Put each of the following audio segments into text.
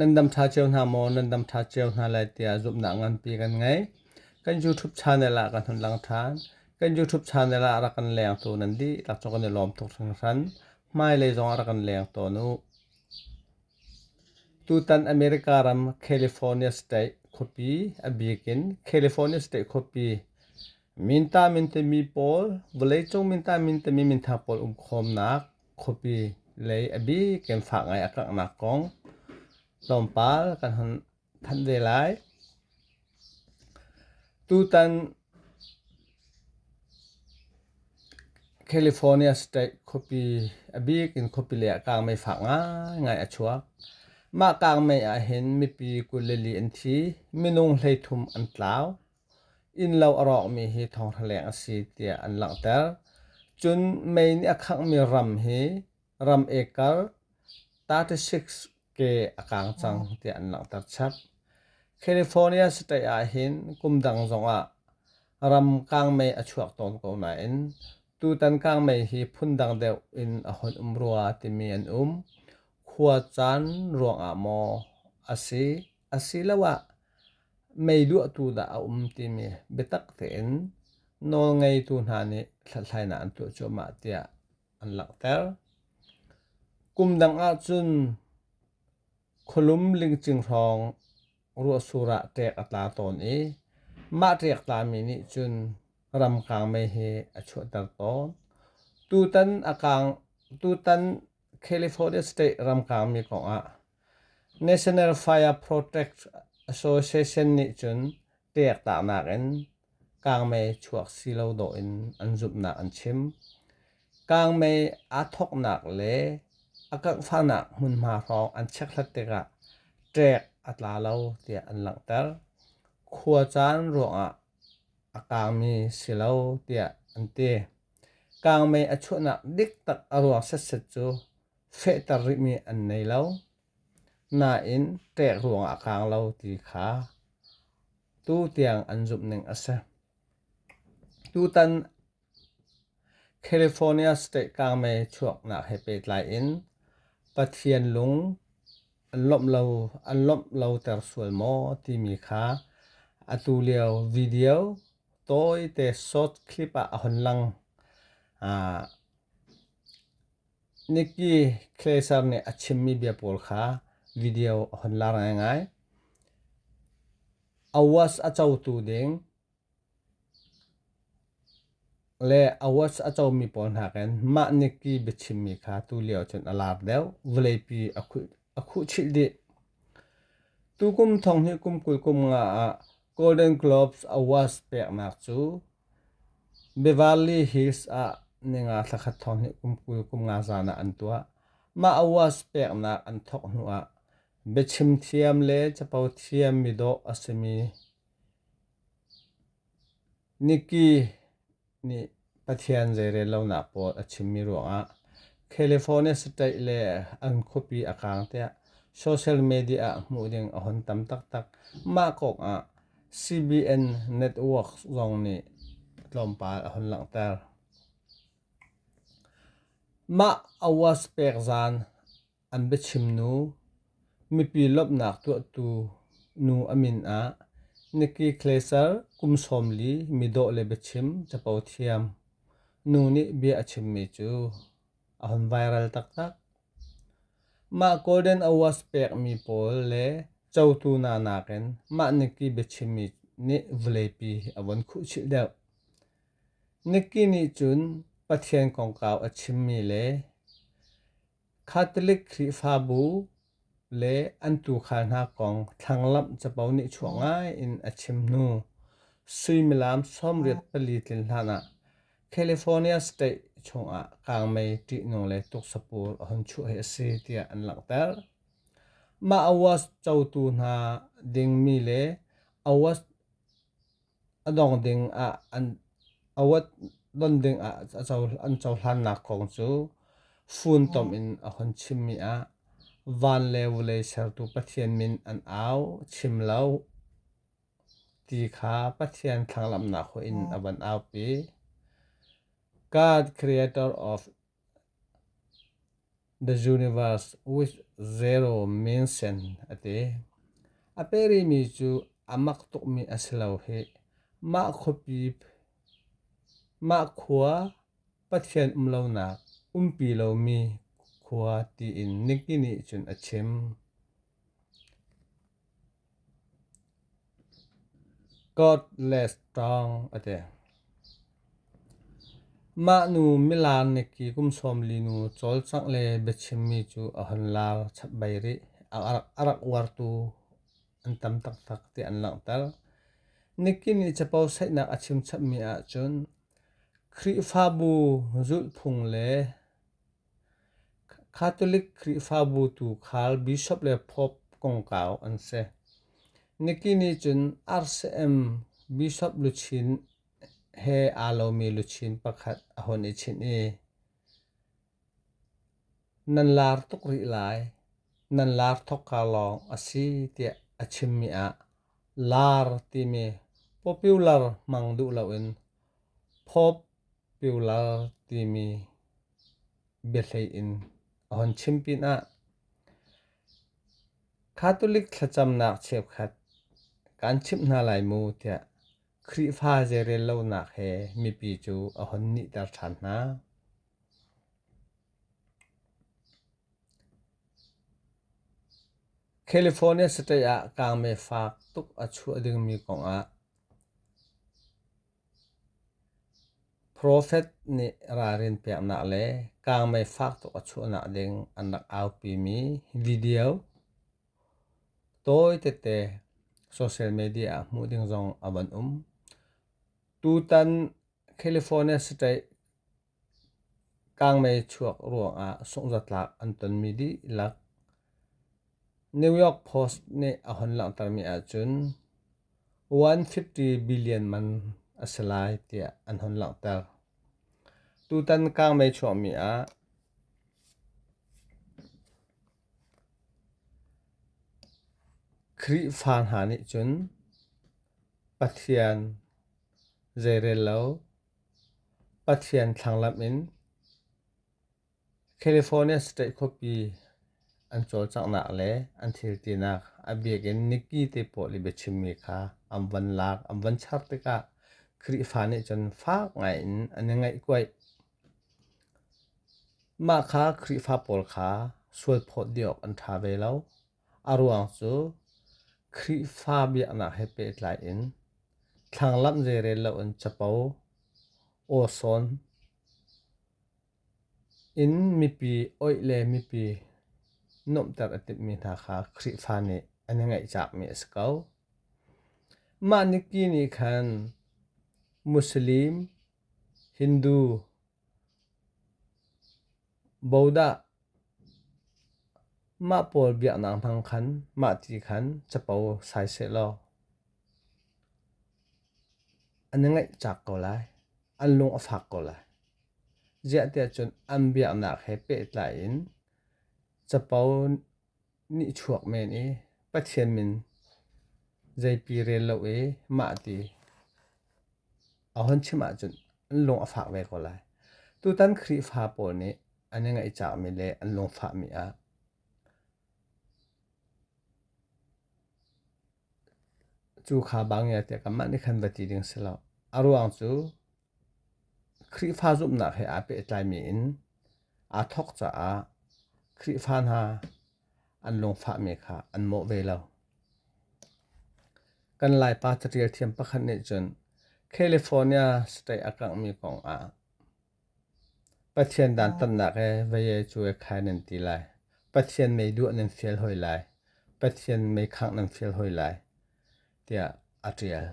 Nan dam ṭha cio hna maw? Nan dam ṭha cio hna lai tiah zumhnak nganpi kan ngei. Kan YouTube channel ah kan hun lang ṭhan. Kan YouTube channel ah rak kan lengtu nan dihlak cu kan i lawm tuk hringhran. Hmailei zong ah rak kan leng tawn u. Tutan America ram California State khuapi, a bik in California State khuapi, minta mintemi pawl, vawleicung minta mintemi minthang pawl um khawmnak, khuapi lei a bik in fah ngai a kanghnak kong tlawmpal kan hon thanh ve lai. Tutan California State khuapi a bik in khuapi lei ah kangmei fak ngaingai a chuak. Mah kangmei ah hin mipi kul le li an thi. Minung hleithum an tlau. innlo a rawkmi hi thawnghraleng a si tiah an langhter. Cun May nih a khanghmi ram hi ram acre 36 ke a kaang cang tiah an langhter chap. California state ahhin kum dang zongah ram kangmei a chuak tawn ko nain tutan kangmei hi phundang deuh in a hun um rua timi an um. Khua caan ruangah maw a si asiloah mei luahtu dah a um timi biatak tein nawlngeitu hna nih hlathlainak an tuah cuahmah tiah an langhter. Kum dang ahcun khualum lingcing hrawng ruahsur ah ṭek a tla tawn i mah ṭek tlami nih cun ramkaang mei hi a chuahter tawn. Tutan a kaang tutan California state ramkaangmi kongah National Fire Protect Association nih cun tehtaknak in kangmei chuak si lo dawh in an zumhnak an chim. Kangmei aa thawknak le a kanghfanak hmunhma hrawng an chekhlat tikah ṭek a tla lo tiah an langhter. Khua caan ruangah a kangmi si lo tiah an ti. Kangmei a chuahnak dik tak a ruang setset cu fehter rihmi an nei lo. Nain ṭek ruang a kaang lo ti kha tu tiang an zumhning a si. Tutan California state kangmei chuaknak he pehtlai in Pathian lung an lawmh lo, an lawmh loter sual maw timi kha atu lio video tawite short clip ah a hon lang. Nikki Glaser nih a chimmi bia pawl kha video a hun laar ngaingai. Awards a cotu ding le awards a comi pawl hna kan mah Nikki biachimmi kha tulio cun a laar deuh. Vawleipi a khuhchilh dih. Tukum thong hi kum kul kum nga ah Golden Globes Awards peknak cu Bivalli Hills ah ninga thla khat thawng hi kum kul kum nga zan ah an tuah. Mah awards peknak an thawk hnu ah biachim thiam le capo thiam mi dawh a si mi Nikki nih Pathian zeirel lonak pawl a chim mi ruangah California state le an khuapi a kang tiah social media ah hmuh ding a hun tam taktak. Mah kong ah CBN networks zong nih tlawmpal a hun langhter. Mah awas pek zan an biachim nu mipi lawmhnak tuahtu nu a min ah Nikki Glaser kum sawmli mi dawh le biachim capo thiam nu nih bia a chimmi cu a hun viral taktak. Mah Golden Awards pekmi pawl le cotu hna nakin mah Nikki biachimmi nih vawleipi a vun khuhchilh deuh. Nikki nih cun Pathian kongkau a chimmi le Catholic Khrihfabu le an tuukhal hna kong thlanglamh capo nih chuah ngai in a chim hnu suimilam sawmriat pali tlin hlanah California state chungah kangmei ṭihnung le tuksapur a hun chuah hi a si tiah an langhter. Mah awards cotu hna dingmi le awards a dong ding ah an awat don ding ah a co an cohlannak kong cu funtom in a hun chimmi ah van le vawlei sertu Pathian min an au chim lo ti kha Pathian thlanglamnak hoih in a van aupi God creator of The Universe with Zero Mention a ti. A perimi cu a mak tukmi a si lo hih. Mah khuapi, mah khua Pathian um lonak umpi lomi khua tiin Nicky nih cun a chim. Godless ṭawng a ti. Mahnu milaan neki kum sawmli nu cawlcangh le biachimmi cu a hun laar chap bei rih. A rak uartu an tam taktak ti an langhter. Neki nih capo saihnak a chim chapmi ahcun Khrihfabu zulhphung le Catholic Khrihfabu tu khal bishop le pope kongkau an si. Niki nih cun RCM bishop luchin he aa lomi luchin pakhat a hun i chinh i, nan lar tuk rih lai, nan lar thok ka lawng a si tiah a chimmi ah lar timi popular hmang duh loin pope piular timi biahlei in a hun chim pinah Catholic thlacamnak cheukhat kan chimh hna lai mu tiah Khrihfa zeirel lonak he mipi cu a hun nihter ṭhan hna. California state ah kaangme faak tuk a chuah dingmi kongah Profet nih ralrin peknak le kaangmei fak tuk a chuahnak ding an rak aupimi video tawi tete social media ah hmuh ding zong a van um. Tutan California state Kangmei chuak ruangah sungzatlak an tonmi dihlak New York Post nih a hun langhtermi ahcun $150 billion man a si lai tiah an hun langhter. Tutan kangmei chuahmi ah Khrihfa hna nih cun Pathian zeirello Pathian thlanglamh in California State khuapi an cawlcanghnak le an thiltinak a biak in Nikki te pawl i biachimmi kha an van lak an van char tikah Khrihfa nih cun fak ngaiin an i ngaihkuaih. Mah kha Khrihfa pawl kha sual phawt dih awk an ṭha ve lo. A ruang cu Khrihfa biaknak he pehtlai in thlanglamh zeirel loin capo awsawn in mipi oih le mipi nuamhter a timhmi hna kha Khrihfa nih an i ngaihcakmi a si ko. Mah niki nih khan Muslim, Hindu, Bodah mah pawl biaknak hmang khan mah ti khan capo sai sehlaw an i ngaih cak ko lai. An lung a fak ko lai. Ziah tiah cun an biaknak he pehtlai in capo Nihchuak men i Pathian min zeipi rel lo i mah ti ahon chim ahcun an lung a fak ve ko lai. Tutan Khrihfa pawl nih an i ngaihcangmi le an lungfahmi ah cu kha bang ya tiah kanmah nih khan va ti ding si lo. A ruang cu Khrihfa zumhnak he aa pehtlaimi in aa thawk caah Khrihfa hna an lungfahmi kha an mawh ve lo. Kan Laipa caṭial thiam pakhat nih cun California state a kanghmi kong ah Pathian dantatnak he vayee cuai khai nan ti lai. Pathian mei duah nan fial hoi lai. Pathian mei khangh nan fial hoi lai tiah a ṭial.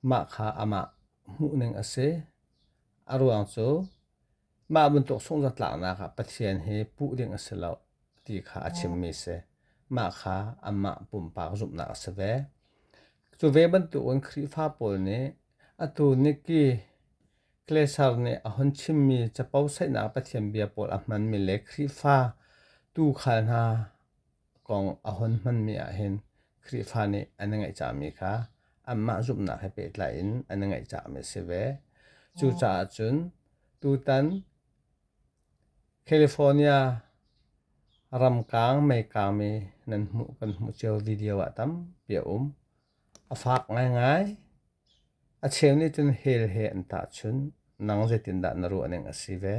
Mah kha amah hmuhning a si. A ruang cu mah bantuk sunghzatlaknak ah Pathian hi puh ding a si lo ti kha a chimmi a si. Mah kha amah pumpak zumhnak a si ve. Cu ve bantukin Khrihfa pawl nih atu Nikki Klesar nih a hun chimmi capo saihnak Pathian bia pawl a hmanmi le Khrihfa tuu khal hna A kong a hun hmanmi ahhin Khrihfa nih an i ngaihcahmi kha anmah zumhnak he pehtlai in an i ngaihcahmi a si ve. Cucaah cun tutan California ramkaang meikaangmi nan hmuh kan hmuh cio video ah tampi a um. A fak ngaingai. A cheu nih cun hell he an tahchunh. Nang zeitindah na ruahning a si ve?